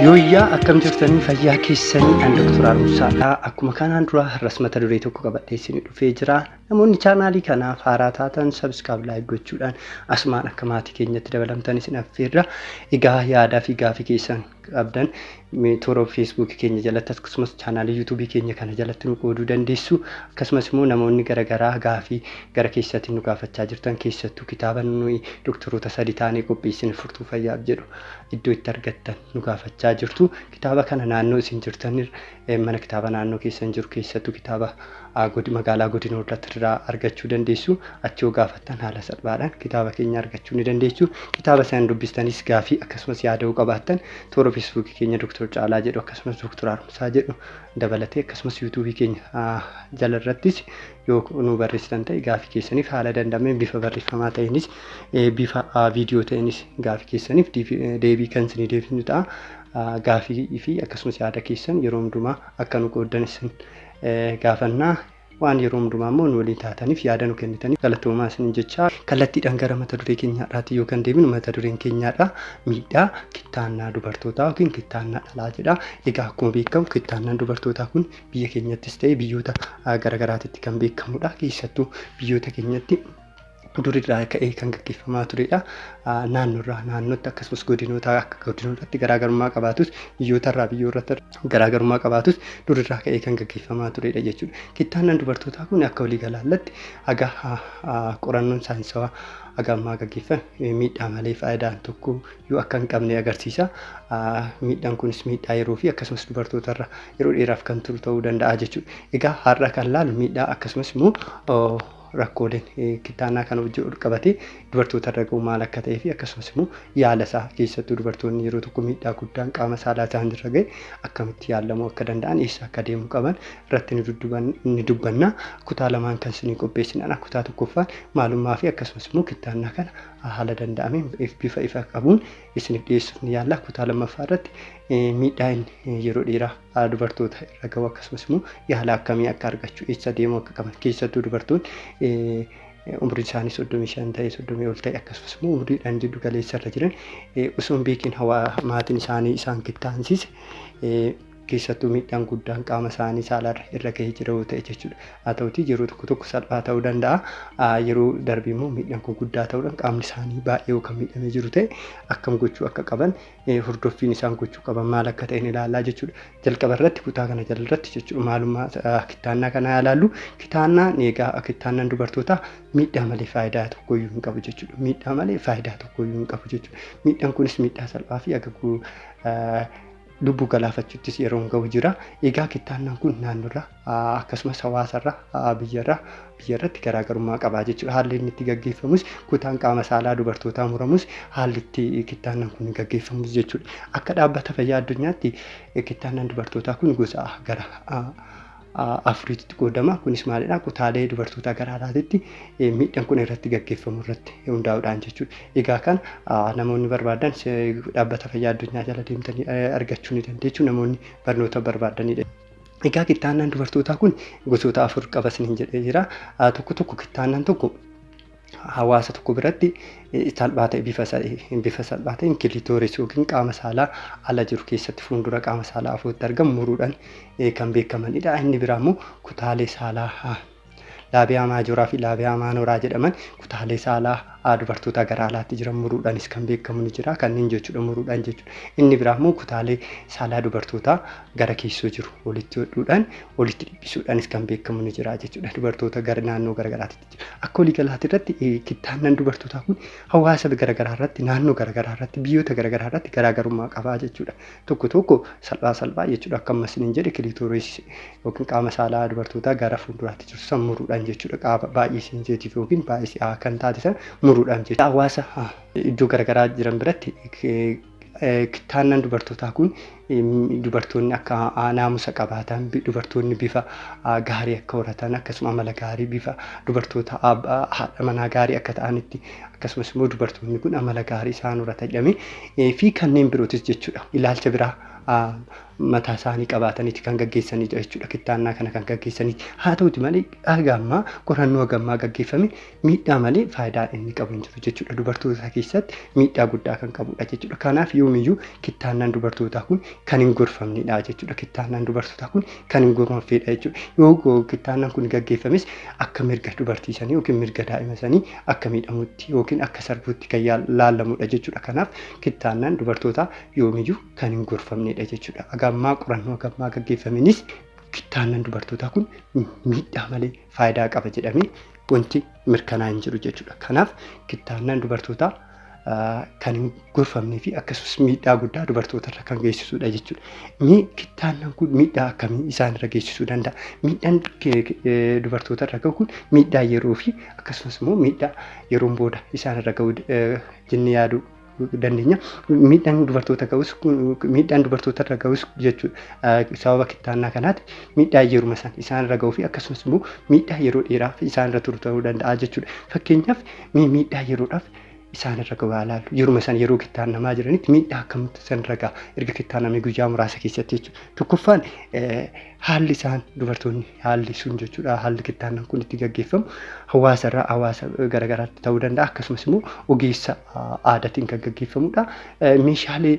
Yooyyaa akkam jirtanii fayyaa keessanii an Dr. Arumsaadha. Akkuma kanaan dura har'as mata duree tokko qabadhee isin dhufee jira. Namoonni chaanaalii kanaaf haaraa taatan sabiskaab laayik gochuudhaan asumaan akka maatii keenyatti dabalamtan isin affeerra. Egaa yaadaa fi gaafii keessan qabdan mee toora feesbuukii keenya jalatti akkasumas chaanaalii yuutuubii keenya kana jalatti nu qooduu dandeessu akkasumas immoo namoonni garagaraa gaafii gara keessatiin nu gaafachaa jirtan keessattuu kitaaba nuyi doktoroota sadi taanee qopheessine furtuu fayyaaf jedhu iddoo itti argattan nu gaafachaa jirtu kitaaba kana naannoo isin jirtan Mana kitaabaa naannoo keessan jiru keessattuu kitaaba magaalaa godina Hollatta irraa argachuu dandeessu. Achi yoo gaafattan haala salphaadhaan kitaaba keenya argachuu ni dandeessu. Kitaaba isaan dubbistanis gaafii akkasumas yaada yoo qabaattan toora feesbuukii keenya Dooktor Caalaa jedhu akkasumas Dooktor Haaromsaa jedhu dabalatee akkasumas yuutuubii keenya jala irrattis yoo nu barreessitan ta'e gaafii keessaniif haala danda'ameen bifa barreeffamaa ta'eenis bifa viidiyoo ta'eenis gaafii keessaniif deebii kan isinii deebisnu ta'a. gaafii fi akkasumas yaada keessan yeroo hundumaa akka nu qooddan isin gaafanna. Waan yeroo hundumaa immoo nu waliin taataniif yaada nu kennitaniif galatoomaa isiniin jechaa kallattiidhaan gara mata duree keenyaadhaatti yoo kan deebinu mata dureen keenyaadha miidhaa kittaannaa dubartootaa yookiin kittaannaa dhalaa jedha. Egaa akkuma beekamu kittaannaan dubartootaa kun biyya keenyattis ta'e biyyoota garaagaraatitti kan beekamudha. Keessattuu biyyoota keenyatti durirraa ka'ee kan gaggeeffamaa turedha. Naannoorraa naannootti akkasumas godinoota akka godinootatti garaagarummaa qabaatus biyyootarraa biyyoorratti garaagarummaa qabaatus durirraa ka'ee kan gaggeeffamaa turedha jechuudha. Kittaannaan dubartootaa kun akka waliigalaatti haga qorannoon saayinsawaa haga ammaa gaggeeffame miidhaa malee faayidaan tokko yoo akka hin qabne agarsiisa. Miidhaan kunis miidhaa yeroo fi akkasumas dubartootarra yeroo dheeraaf kan turu ta'uu danda'a jechuudha. Egaa har'a kan laalu miidhaa akkasumas immoo Rakkooleen kittaannaa kana wajjin walqabatee dubartootarra ga'u maal akka ta'eefi akkasumas immoo yaalasaa keessattuu dubartoonni yeroo tokko miidhaa guddaan qaama saalaa isaanirra ga'e akkamitti yaallamuu akka danda'an eessa akka deemuu qaban irratti ni dubbanna. Kutaa lamaan kan isinii qopheessinedha. Kutaa tokkoffaan maalummaafi akkasumas immoo kittaannaa kana haala danda'ameen bifa ifa qabuun isiniif dhiyeessuuf ni yaalla. Kutaa lammaffaa irratti miidhaa inni yeroo dheeraa dubartoota irra gahu akkasumas immoo yaala akkamii akka argachuu eessa deemuu akka qaban keessattuu dubartoonni umriin isaanii soddomii shan ta'e soddomii ol ta'e akkasumas immoo umriidhaan jiddu galeessa irra jiran osoo hin beekin hawaa maatiin isaanii isaan kittaansiise keessattuu miidhaan guddaan qaama isaanii saalarra irra gahee jira yoo ta'e jechuudha. Haa ta'utii yeroo tokko tokko salphaa ta'uu danda'a. Yeroo darbe immoo miidhaan kun guddaa ta'uudhaan qaamni isaanii baay'ee kan miidhamee jiru ta'e akkam gochuu akka qaban hordoffiin isaan gochuu qaban maal akka ta'e ni ilaallaa jechuudha. Jalqaba irratti kutaa kana jala irratti jechuudha maalummaa kittaannaa kana haa ilaallu. Kittaannaan egaa kittaannaan dubartootaa miidhaa malee faayidaa tokkoyyuu hin qabu jechuudha. Miidhaa malee faayidaa tokkoyyuu hin qabu jechuudha. Miidhaan kunis miidhaa salphaa fi agaguu lubbuu galaafachuuttis yeroon ga'u jira. Egaa kittaannaan kun naannoorraa akkasumas hawaasarra, biyyarra, biyyarratti garaagarummaa qaba jechuudha. Haalli inni itti gaggeeffamus kutaan qaama saalaa dubartootaa muramus haalli itti kittaannan kun gaggeeffamus jechuudha. Akka dhaabbata fayyaa addunyaatti kittaannan dubartootaa kun gosa gara afuriitti qoodama. Kunis maalidha? Kutaalee dubartootaa gara alaatitti miidhaan kun irratti gaggeeffamu irratti hundaa'uudhaan jechuudha. Egaa kan namoonni barbaadan dhaabbata fayyaa addunyaa jala deemtanii argachuu ni dandeessu. Namoonni barnoota barbaadanidha. Egaa kittaannaan dubartootaa kun gosoota afur qaba isiniin jedhee jira. Tokko tokko kittaannaan tokko hawaasa tokko biratti salphaa ta'e bifa bifa salphaa ta'een kilitooris yookiin qaama saalaa ala jiru keessatti fuuldura qaama saalaa afootti argamu muruudhaan kan beekamanidha. Inni biraa immoo kutaalee saalaa Laabiyaa maajooraa fi laabiyaa maanooraa jedhaman kutaalee saalaa aa dubartootaa gara alaatti jiran muruudhaanis kan beekamu ni jira. Kanneen jechuudha muruudhaan jechuudha. Inni biraa immoo kutaalee saalaa dubartootaa gara keessoo jiru walitti hodhuudhaan walitti dhiphisuudhaanis kan beekamu ni jira jechuudha. Dubartoota gara naannoo garaagaraatti jira. Akka waliigalaatti irratti eh, kittaannan dubartootaa kun hawaasa garaagaraa irratti naannoo garaagaraa irratti biyyoota garaagaraa irratti garaagarummaa qabaa jechuudha. tokko tokko salphaa salphaa jechuudha akka amma isiniin jedhe kiliitooris yookiin qaama saalaa dubartootaa gara fuulduraatti jirtu san muruudhaan jechuudha qaama baay'ee seenseetiif yookiin baay'ee si'aa kan taate san muruudhaan jechuudha hawaasa iddoo garaagaraa jiran biratti kittaannaan dubartootaa kun dubartoonni akka naamusa qabaatan dubartoonni bifa gaarii akka horatan akkasuma amala gaarii bifa dubartoota haadha manaa gaarii akka ta'anitti akkasumas immoo dubartoonni kun amala gaarii isaanirra tajame fi kanneen birootis jechuudha ilaalcha biraa mataa isaanii qabaataniiti kan gaggeessanidha jechuudha kittaannaa kana kan gaggeessanii haa ta'uti malee haga ammaa qorannoo haga ammaa gaggeeffame miidhaa malee faayidaa inni qabu hin jiru jechuudha dubartoota keessatti miidhaa guddaa kan qabudha jechuudha kanaaf yoomiyyuu kittaannaan dubartootaa kun kan hin gorfamnedha jechuudha kittaannaan dubartootaa kun kan hin gorfamnedha jechuudha yoo kittaannaan kun gaggeeffames akka mirga dubartii sanii yookiin mirga daa'ima sanii akka miidhamutti yookiin akka sarbuutti kan yaal- laalamudha jechuudha. Kanaaf kittaannaan dubartootaa yoomiyyuu kan hin gorfamnedha jechuudha. Agammaa qorannoo agammaa gaggeeffamenis kittaannaan dubartootaa kun miidhaa malee faayidaa qaba jedhamee wanti mirkanaa'e hin jiru jechuudha. Kanaaf kittaannaan dubartootaa kan hin gorfamnee fi akkasumas miidhaa guddaa dubartoota irra kan geessisudha jechuudha. Mee kittaannan kun miidhaa akkamii isaan irra geessisuu danda'a? Miidhaan dubartoota irra gahu kun miidhaa yeroo fi akkasumas immoo miidhaa yeroon booda isaan irra gahu jennee yaaduu dandeenya. Miidhaan dubartoota gahus miidhaan dubartoota irra gahus jechuudha. Sababa kittaannaa kanaati miidhaa yeruma san isaan irra gahuu fi akkasumas immoo miidhaa yeroo dheeraaf isaan irra turu ta'uu danda'a jechuudha. Fakkeenyaaf miidhaa yeroodhaaf isaan irra gahaa ilaallu. Yeruma isaan yeroo kittaannamaa jiranitti miidhaa akkamitti isaan irra gaha erga kittaannamee guyyaa muraasa keessatti jechuudha. Tokkoffaan haalli isaan dubartoonni haalli sun jechuudha haalli kittaannan kun itti gaggeeffamu hawaasa irraa hawaasa garaagaraatti ta'uu danda'a akkasumas immoo ogeessa aadaatiin kan gaggeeffamudha. Meeshaalee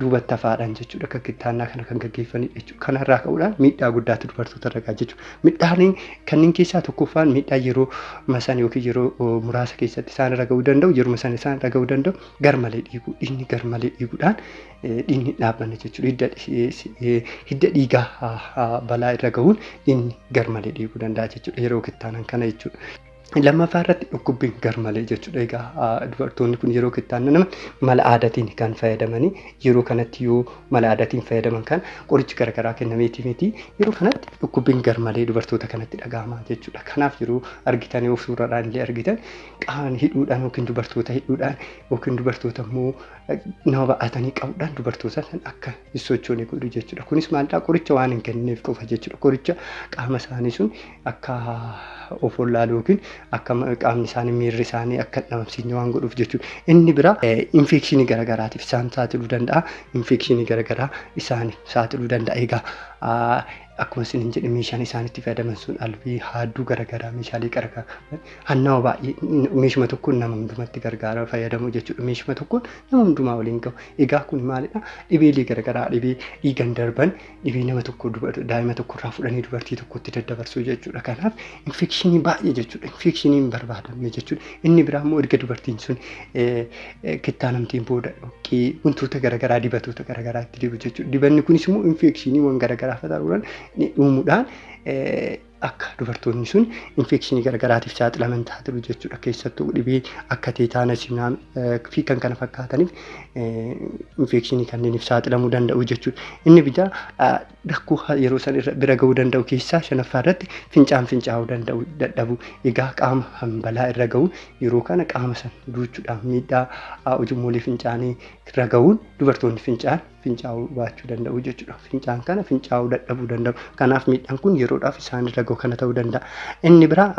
duubatti hafaadhaan jechuudha kan kittaannaa kana kan gaggeeffanidha jechuudha. Kanarraa ka'uudhaan miidhaa guddaatu dubartoota irra ga'a jechuudha. Miidhaan kanneen keessaa tokkoffaan miidhaa yeroo masaan yookiin yeroo oh, muraasa keessatti isaan irra ga'uu danda'u yeruma sana isaan irra ga'uu danda'u garmalee dhiiguu dhiigni garmalee dhiiguudhaan eh, dhiigni hin dhaabbanne jechuudha. Hidda, eh, si- eh, hidda dhiigaa ah, ah, balaa irra ga'uun dhiigni garmalee dhiiguu danda'a jechuudha yeroo kittaanan kana jechuudha. Lammaffaa irratti dhukkubbiin garmalee jechuudha. Egaa dubartoonni kun yeroo kittaannaman mala aadaatiin kan fayyadamanii yeroo kanatti yoo mala aadaatiin fayyadaman kan qorichi garaagaraa kennameetii miti. Yeroo kanatti dhukkubbiin garmalee dubartoota kanatti dhaga'ama jechuudha. Kanaaf yeroo argitan yoo suuradhaan illee argitan qaama hidhuudhaan yookiin dubartoota hidhuudhaan yookiin dubartoota immoo nama ba'atanii qabuudhaan dubartoota san akka hin sochoone godhu jechuudha. Kunis maalidhaa qoricha waan hin kennineef qofa jechuudha. Qoricha qaama isaanii sun akka of wallaalu yookiin akka qaamni isaanii miirri isaanii akka hin dhabamsiisne waan godhuuf jechuudha. Inni bira infekshinii garaagaraatiif isaan saaxiluu danda'a. Infekshinii garaagaraa isaan saaxiluu danda'a. Egaa akkuma isiniin jedhe meeshaan isaan itti fayyadaman sun albii haadduu garaagaraa meeshaalee garaagaraa hannawa baay'ee meeshuma tokkoon nama hundumatti gargaara fayyadamu jechuudha. Meeshuma tokkoon nama hundumaa waliin gahu. Egaa kun maalidha? Dhibeelee garaagaraa dhibee dhiigan darban dhibee nama tokko daa'ima tokko irraa fudhanii dubartii tokkotti daddabarsuu jechuudha. Kanaaf infekshinii baay'ee jechuudha. Infekshinii hin barbaadamne jechuudha. Inni biraa immoo erga dubartiin sun kittaanamteen booda dhoqqee wantoota garaagaraa dibatoota garaagaraa itti dibu jechuudha. Dibanni kunis immoo infekshinii waan garaagaraa fayyadamuudhaan uumuudhaan akka dubartoonni sun infekshinii garagaraatiif saaxilaman taatiru jechuudha. Keessattuu dhibee akka teetaanas fi kan kana fakkaataniif infekshinii kanneeniif saaxilamuu danda'u jechuudha. Inni bitaa rakkoo yeroo san irra bira ga'uu danda'u keessaa shanaffaa irratti fincaan fincaa'uu danda'u dadhabu. Egaa qaama hambalaa irra ga'u yeroo kana qaama san duuchuudhaan miidhaa ujummoolee fincaanii irra ga'uun dubartoonni fincaan fincaa'uu baachuu danda'u jechuudha. Fincaan kana fincaa'uu dadhabuu danda'u. Kanaaf miidhaan kun yeroodhaaf isaan irra gahu kana ta'uu danda'a. Inni biraa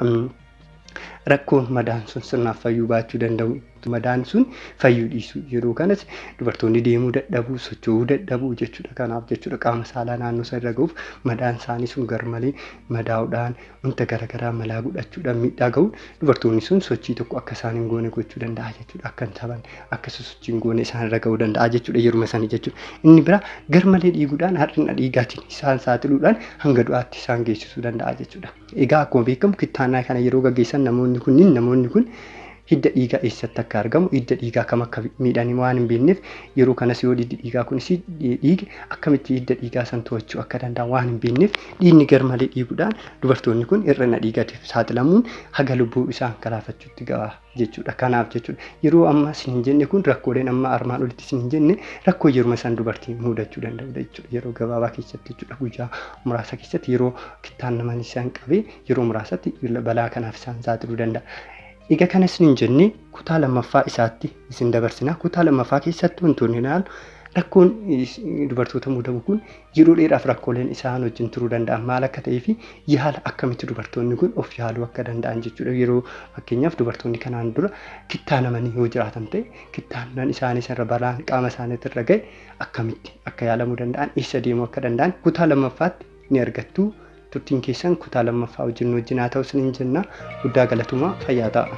rakkoo madaan sun sirnaaf fayyuu baachuu danda'u. Madaan sun fayyuu dhiisu. Yeroo kanas dubartoonni deemuu dadhabuu, socho'uu dadhabuu jechuudha. Kanaaf jechuudha qaama saalaa naannoo isaa irra gahuuf madaan isaanii sun garmalee madaa'uudhaan wanta garagaraa malaa godhachuudhaan miidhaa ga'uun dubartoonni sun sochii tokko akka isaan hin goone gochuu danda'a jechuudha. Akka hin taphanne, akka isa sochii hin goone isaan irra ga'uu danda'a jechuudha yeruma sanii jechuudha. Inni biraa garmalee dhiiguudhaan har'ina dhiigaatiin isaan saaxiluudhaan hanga du'aatti isaan geessisuu danda'a jechuudha. Egaa akkuma beekamu kittaannaa kana yeroo gaggeessan namoonni kunniin namoonni kun Hidda dhiigaa eessatti akka argamu, hidda dhiigaa kam akka miidhan waan hin beekneef, yeroo kanas yoo hiddi dhiigaa kunis dhiige akkamitti hidda dhiigaa san to'achuu akka danda'an waan hin beekneef dhiigni garmalee dhiiguudhaan dubartoonni kun hir'ina dhiigatiif saaxilamuun haga lubbuu isaan galaafachuutti ga'a jechuudha. Kanaaf jechuudha yeroo amma isin hin jenne kun rakkooleen amma armaan olitti isin hin jenne rakkoo yeruma san dubartii muudachuu danda'udha jechuudha. Yeroo gabaabaa keessatti jechuudha guyyaa muraasa keessatti yeroo kittaan naman isaan qabee yeroo muraasatti balaa kanaaf isaan saaxiluu danda'a. Egaa kana isiniin jennee kutaa lammaffaa isaatti isin dabarsina. Kutaa lammaffaa keessatti wantoonni ilaalu rakkoon dubartoota mudamu kun yeroo dheeraaf rakkooleen isaan wajjin turuu danda'an maal akka ta'ee fi yaala akkamitti dubartoonni kun of yaaluu akka danda'an jechuudha. Yeroo fakkeenyaaf dubartoonni kanaan dura kittaanamanii yoo jiraatan ta'e kittaannan isaanii sanarra balaan qaama isaaniitti irra ga'e akkamitti akka yaalamuu danda'an eessa deemuu akka danda'an kutaa lammaffaatti ni argattu. Turtiin keessan kutaa lammaffaa wajjin nu wajjin haa ta'u isiniin jenna. Guddaa galatomaa fayyaa ta'aa.